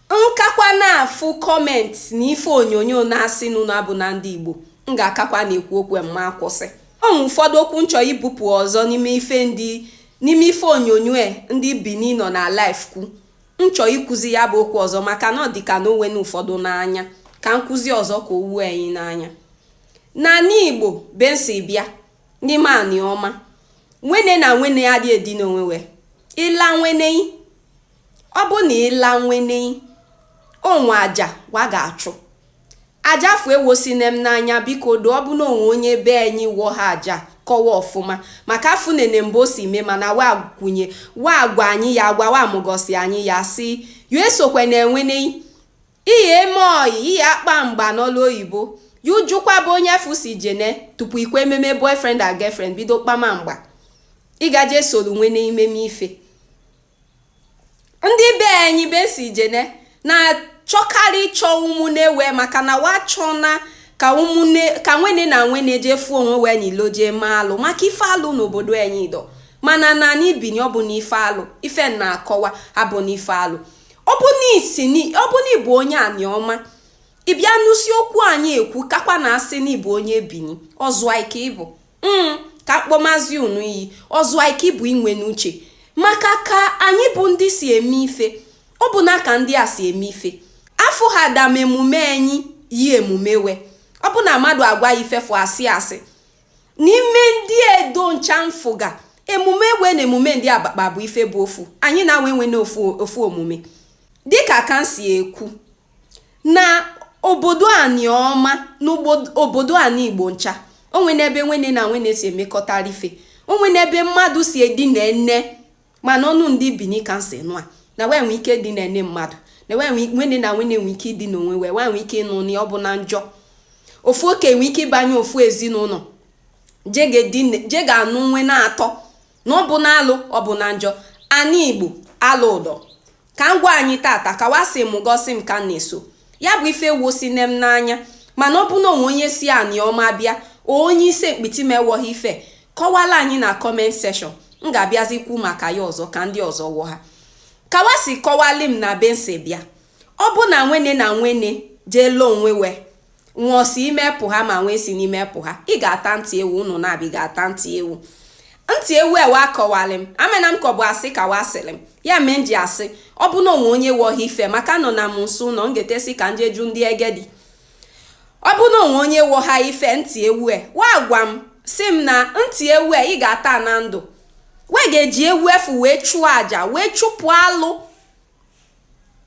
n kakwa na-afụ comment na ife onyonyo na-asị na unu abụna ndị Igbo m ga-akakwa na-ekwu okwu ma akwụsị o nwe ụfọdụ okwu n chọ ibupụ ọzọ n'ime ife ndị n'ime ife onyonyo e, ndị Bini nọ na live kwu n chọ ịkụzi ya bụ okwu ọzọ maka na ọ dị ka na o wone ụfọdụ n'anya ka n kụzi ọzọ ka o wo anyị n'anya n'anị Igbo be n si bịa n'ime Anịọma nwene na nwene adị edina onwe we ị la nwene i ọ bụ na ị la nwene o nwe aja wa ga-achụ aja afụ ewosine m n'anya biko do ọ bụ na o nwe onye be anyị wọha aja kọwa ọfụma maka afụnene m be o si mee mana wa kwunye wa agwa anyị ya agwa wa amụgosi anyị ya si yo esokwene nwene i eme oyi ihe akpa mgba n'olu oyibo ya jụkwa be onye afụ si jene tupu i kwe ememe boyfriend and girlfriend bido kpama mgba ị ga-eje soro nwene i meme ife ndị be anyị be si jene na-achọkarị ịchọ ụmụnne we maka na wa chọna ka ụmụnne ka nwene na nwene jee fụọ onwe we n'ilo jee ma alụ maka ife alụ n'obodo anyị dọ mana n'anị Bini ọ bụna ife alụ ife na-akọwa abụna ife alụ ọ bụ na isi ni- ọ bụ na ị bụ onye Anịọma ị bịa nụsi okwu anyị ekwu kakwa na-asị na ị bụ onye Bini ọzụai ka ị bụ Mm, ka m kpọmazi unu iyi ọzụai ka ị bụ i nwene uche maka ka anyị bụ ndị si eme ife ọ bụna ka ndị a si eme ife afụ ha dam emume anyị yi emume we ọ bụ na mmadụ agwa ị ife afụ asị asị n'ime ndị Edo ncha m fụga emume we na emume ndị Abakpa bụ ife bụ ofu anyị na we enwene ofu ofu omume dịka ka m si ekwu na obodo Anịọma na ogbo- obodo anị Igbo ncha o nwene ebe nwene na nwene si emekọtara ife o nwene ebe mmadụ si edina nne mana ọnụ ndị Bini ka n si nụa na we nwee ike dina nne mmadụ na wee nwee- nwene na nwene nwee ike idina onwe we we nwee ike ịnụ na ọ bụna njọ ofu oke nwee ike ịbanye ofu ezinụnọ je ga-edina- je ga-anụ nwene atọ na ọ bụna alụ ọ bụna njọ anị Igbo alụ dọ ka m gwa anyị tata ka wa si mụgosi m ka m na-eso ya bụ ife ewosine m n'anya mana ọ bụ na o nwe onye si Anịọma bịa onye Issele-Mkpitime wọha ife kọwala anyị na comment section m ga-abịazi kwu maka ya ọzọ ka ndị ọzọ wọha ka wa si kọwalị m na be n si bịa ọ bụ na nwene na nwene jee la onwe we nwa si ime pụha ma nwa esine ime pụha ị ga-ata ntị ewu ụnụ naabị ga-ata ntị ewu ntị ewu e wa akọwalị m amana m ka ọ bụ asị ka wa sịrị m ya mee m ji asị ọ bụ na o nwe onye wọha ife maka anọna m nso ụlọ m ga-etesi ka n je jụ ndị egedi ọ bụ na o nwe onye wọha ife ntị ewu e wa gwa m sị m na ntị ewu e ị ga-ata na ndụ we ga-eji ewu afụ wee chụọ aja wee chụpụ alụ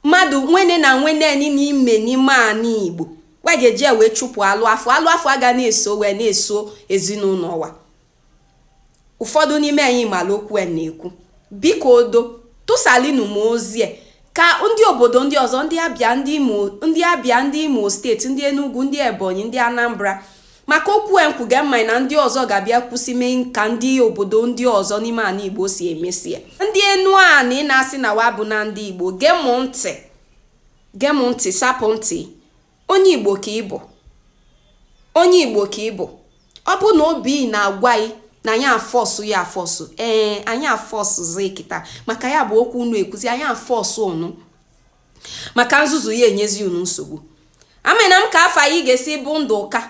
mmadụ nwene na nwene n'ime n'ime anị igbo wa ga-eji ya wee chụpụ alụ afọ alụ afọ aga na-eso wee na-eso ezinụnọ wa ụfọdụ n'ime anyị malụ okwu a na-ekwu biko odo tụsalinu m ozi a ka ndị obodo ndị ọzọ ndị abịa ndị imo state ndị enugu ndị ebonyi ndị anambra maka okwu a m kwuga m ma na ndị ọzọ ga-abịa kwụsị mee ka ndị obodo ndị ọzọ n'ime anị igbo si emesi ya ndị enuanị na-asị na wa bụ na ndị igbo gee m ntị gee m ntị sapụ ntị onye igbo ka ị bụ onye igbo ka ị bụ ọ bụ na obi na-agwa gị na anyị afọsụ ya afọsụ ee anyị afọsụzi kịta maka ya bụ okwu unu ekwuzi anyị afọsụ ụnụ maka nzuzu ya enyezi unu nsogbu amena m ka afa ị ga-esi bụ ndụka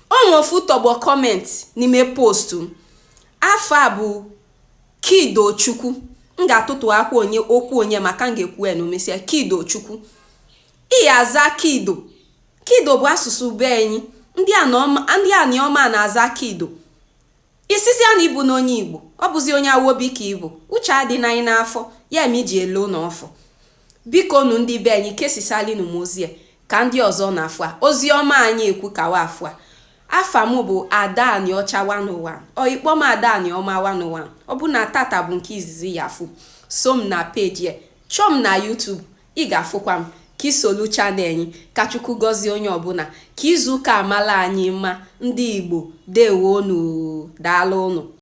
o nwe ofu tọgbọ comment n'ime post m afa a bụ kido chukwu m ga-atụtụ aka okwu onye maka m ga-ekwu ya na omesịa kido chukwu ị aza kido kido bụ asụsụ be anyị ndị anịọma na-aza kido Ị sịzịa na ị bụna onye Igbo, ọ bụzi onye Awobi ka ị bụ, uche adịna yị n'afọ, ya ma iji ele ụlọ ọfụ. Bikonụ ndị be anyị kesisalinu m ozi a ka ndị ọzọ na-afụ a. Ozi ọma anyị ekwu ka wa fụ a. Afa m bụ Ada Anịọcha 101. Or ị kpọ m Ada Anịọma 101. Ọ bụ na tata bụ nke izizi ya afụ. So m na page a. Chọọ m na YouTube. Ị ga-afụkwa m ka i solu channel anyị. Ka Chukwu gọzie onye ọbụna. Ka izu ụka a mala anyị mma ndị Igbo. Deewonu oo. Daalụnụ.